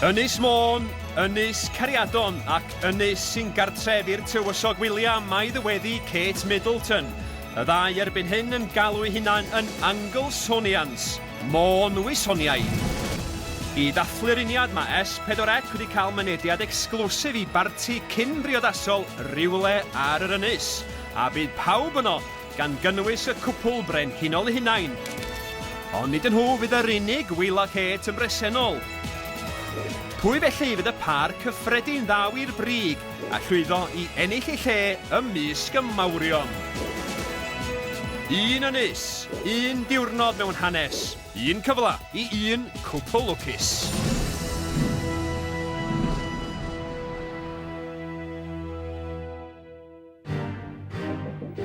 Ynys Môn, Ynys Cariadon ac Ynys sy'n gartref i'r tywysog William mae ddyweddi Kate Middleton. Y ddau erbyn hyn yn galw eu hunain yn Anglesonians, Môn Wisoniaid. I ddathlu'r uniad mae S4C wedi cael mynediad exclusif i barti cyn-briodasol rywle ar yr ynys, a bydd pawb yno gan gynnwys y cwpwl brenhinol eu hunain. Ond nid nhw fydd yr unig Wheeler Hate yn bresennol. Pwy felly fydd y pâr cyffredin ddaw i'r brig a llwyddo i ennill eu lle ymysg y mawrion? Un ynys, un diwrnod mewn hanes, un cyfle i un cwpwl lwcus.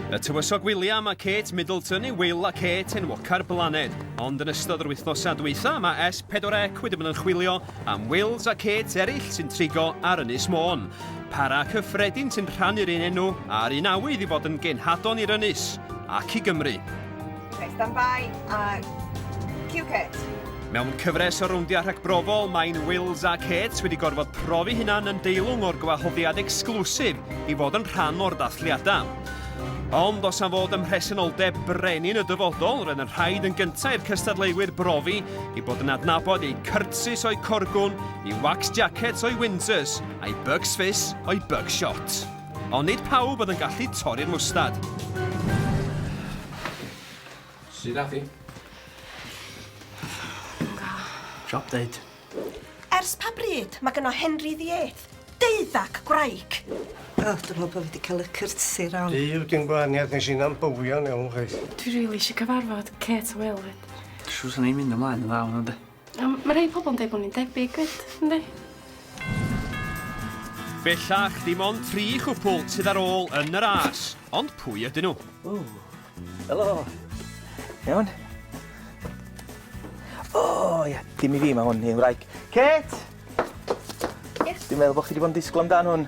Y tywysog William a Kate Middleton yw Will a Kate enwoca'r blaned, ond yn ystod yr wythnosau dwytha mae S4C wedi bod yn chwilio am Wills a Kate eraill sy'n trigo ar Ynys Môn. Para cyffredin sy'n rhannu'r un enw a'r un awydd i fod yn genhadon i'r Ynys ac i Gymru. Reit, stand by a cue Kate. Mewn cyfres o rowndiau rhagbrofol, mae'n Wills a Kate wedi gorfod profi hunan yn deilwng o'r gwahoddiad exclusif i fod yn rhan o'r ddathliadau. Ond os am fod ym mhresenoldeb brenin y dyfodol, roedd yn rhaid yn gyntaf i'r cystadleuwyr brofi i bod yn adnabod eu cyrtsus o'u corgwn, i wax jackets o'u Windsors, a'i bugs fizz o'u bug shot. Ond nid pawb oedd yn gallu torri'r mwstad. Sut ath i? Job deud. Ers pa bryd mae gyno Henry ddiet? Deuddac gwraig! O, oh, dwi'n meddwl bod fi wedi cael y cyrtsi rawn. Di yw dim gwahaniaeth nes i'n am bywio yn iawn, chweith. Dwi rili eisiau cyfarfod Kate Will. Siwr sy'n ei mynd ymlaen yn dda hwnnw, de. Yym ma' rhei pobol yn deud bo' ni'n debyg 'fyd, yndi? Bellach, dim ond tri chwpwl sydd ar ôl yn y ras, ond pwy ydyn nhw? Ww! Helo! Iawn? O ia, dim i fi ma' hwn, un wraig. Kate! Yes? Dwi'n meddwl bo' chi 'di bod yn disgwl amdan hwn.